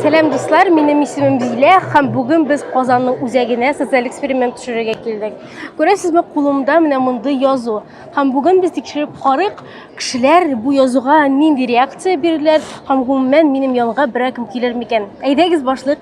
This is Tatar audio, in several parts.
Сәлам дуслар, минем исемем Зилә һәм бүген без Казанның үзәгенә социаль эксперимент төшерергә килдек. Күрәсезме, кулымда менә мондый язу. Һәм бүген без тикшереп карыйк, кешеләр бу язуга нинди реакция бирделәр һәм гомумән минем янга берәр кем килер микән? Әйдәгез башлыйк.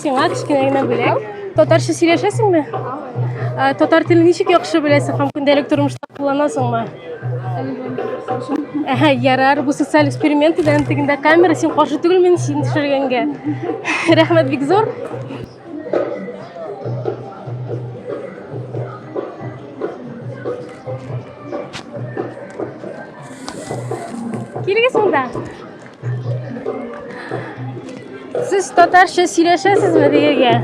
Сиңа кечкенә генә бүләк. Татарча сөйләшәсеңме? Ә, Татар телен ничек яхшы беләсең һәм көндәлек тормышта кулланасыңмы? Әһә, ярар, бу социаль эксперимент иде, антыгында камера, син каршы түгел мин син төшергәнгә. Рәхмәт бик зур. Килегез монда. Сез татарча сөйләшәсезме дигәгә?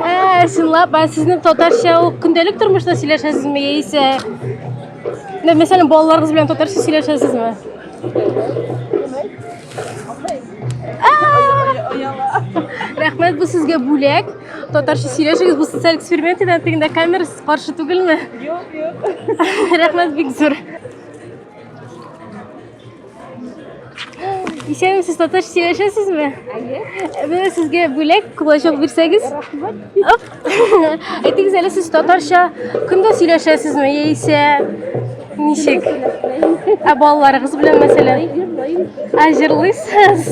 Ә, чынлап, ә сезнең татарча ул көндәлек тормышта сөйләшәсезме яисә Менә мәсәлән, балаларыгыз белән татарча сөйләшәсезме? Рәхмәт бу сезгә бүләк. Татарча сөйләшегез, бу социаль эксперимент иде, тегендә камерасыз каршы түгелме? Юк, юк. Рәхмәт бик зур. Исәнме сез татарча сөйләшәсезме? Әйе. Менә сезгә бүләк кулачок бирсәгез. Рәхмәт. Әйтегез әле сез татарча көндә сөйләшәсезме яисә ничек? Ә балаларыгыз белән мәсәлән? Ә җырлыйсыз?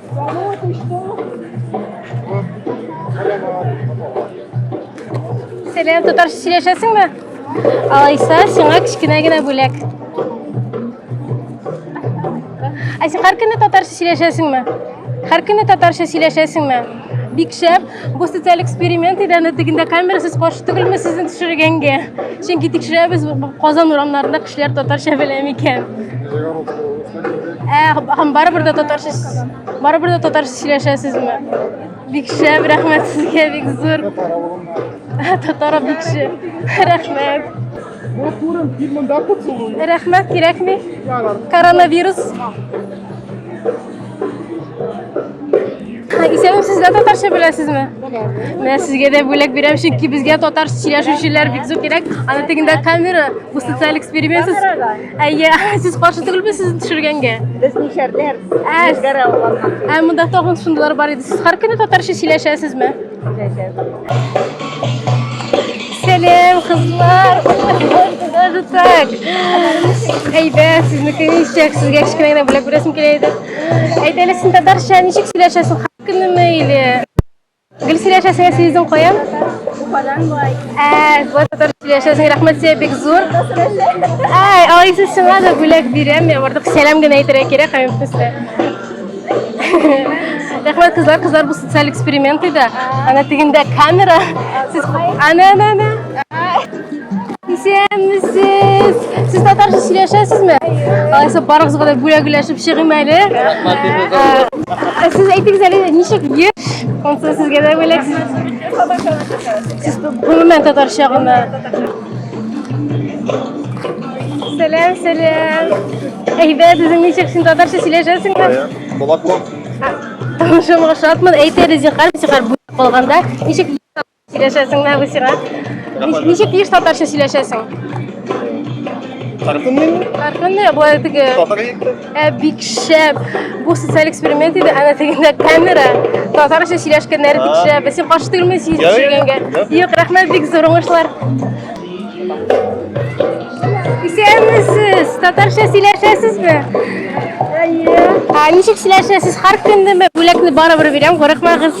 Сәлем, татарча сөйләшәсең бе? Алайса, сиңа кечкенә генә бүләк. Ә син һәр көнне татарча сөйләшәсеңме? Һәр көнне татарча сөйләшәсеңме? Бик шәп. Бу социаль эксперимент иде, аны тегендә камерасыз каршы түгелме сезне төшергәнгә? Чөнки тикшерәбез, Казан урамнарында кешеләр татарча белә микән? Ә, һәм барыбер дә татарча барыбер дә татарча сөйләшәсезме? Бик шәп, рәхмәт сезгә, бик зур. Татар бик шәп. Рәхмәт. Вот күрен, кил монда поцелуй. Рәхмәт, кирәкми. Коронавирус. Исәнем, сез дә татарча беләсезме? Менә сезгә дә бүләк бирәм, чөнки безгә татар сөйләшүчеләр бик зур кирәк. Аны тегендә камера, бу социаль эксперимент. Әйе, сез каршы түгелме сезне төшергәнгә? Без нишәрләр? Ә, ә монда тагын шундыйлар бар иде. Сез һәр көне татарча сөйләшәсезме? Сәлем, кызлар! Даже так! Әйбәт, сезнеке ничек? Сезгә кечкенә генә бүләк бирәсем килә иде. Әйт әле, син татарча ничек сөйләшәсең? Хак көнеме или? Гел сөйләшәсеңә сездең каян? Уфадан бай. Ә, вот татарча сөйләшәсең. Рәхмәт сезгә бик зур. Ай, алайса сиңа да бүләк бирәм. Я бардык сәлам генә әйтергә кирәк, һәм Рәхмәт кызлар, кызлар бу социаль эксперимент иде. Ана тегендә камера. Сез ана ана ана. Исәнмесез. Сез татарча сөйләшәсезме? Алайса барыгызга да бүләкләшеп чыгыйм әле. Ә Сез әйтегез әле ничек еш? Онсы сезгә дә бүләк. Сез гомумән татарча гына Сәләм, сәләм. Әйбәт, үзең ничек? Син татарча сөйләшәсеңме? Молоко. Шуңа ошатмын. Әйт әле, зинһар, зинһар, бүлеп калганда ничек сөйләшәсең нәгы сиңа? Нич- Ничек еш татарча сөйләшәсең? Тархын мин, Тархынны, болай теге. татар егеті. Ә бик шәп. Бу социаль эксперимент иде, әнә тегендә камера. Татарча сөйләшкәннәре бик шәп. Без син каршы түгелме син сөйләгәнгә? Юк, рәхмәт бик зур уңышлар. Исәнмесез. Татарча сөйләшәсезме? Әйе. Ә ничек сөйләшәсез? Һәр көндәме? Бүләкне барыбер бирәм, курыкмагыз.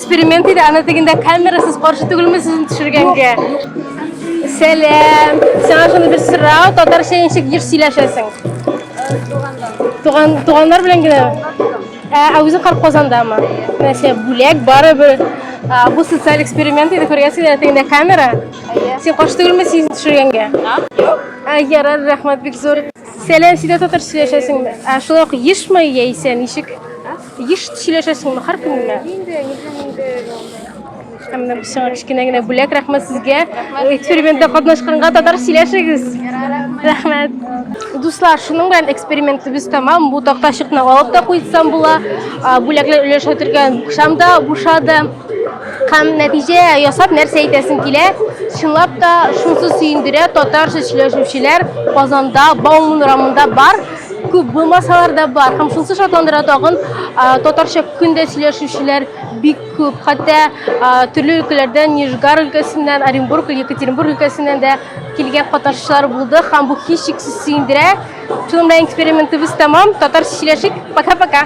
Эксперимент иде, аны дигәндә камерасыз каршы түгелме сезне төшергәнгә? Сәлам. Сиңа шуны бер сорау, татарча ничек еш сөйләшәсең? Туган туганнар белән генә. Ә, ә үзең кар Казандамы? Нәрсә, бүләк барыбер. А, бу социаль эксперимент иде, күргәнсең дә тегендә камера. Син каршы түгелме сизен төшергәнгә? А, ярар, рәхмәт бик зур. Сәлам, син дә татарча сөйләшәсеңме? Ә, шулай ук ешмы яисә ничек? Еш сөйләшәсеңме һәр көн генә? Инде, инде, инде. Һәм менә бу сиңа кечкенә генә бүләк, рәхмәт сезгә. Экспериментта катнашканга татар сөйләшегез. Рәхмәт. Дуслар, шуның белән экспериментыбыз тәмам. Бу тактачыкны алып та куйсам була. Бүләкләр өләшә торган букшам да бушады. Һәм нәтиҗә ясап нәрсә әйтәсең килә? Чынлап та шунсы сөендерә, татарча сөйләшүчеләр Казанда Бауман урамында бар. Күп булмасалар да бар. Һәм шунсы шатландыра тагын, татарча көн дә сөйләшүчеләр бик күп. Хәтта төрле өлкәләрдән, Нижгар өлкәсеннән, Оренбург, Екатеринбург өлкәсеннән дә килгән катнашучылар булды. Һәм бу һичшиксез сөендерә. Шуның белән экспериментыбыз тәмам. Татарча сөйләшик. Пока-пока.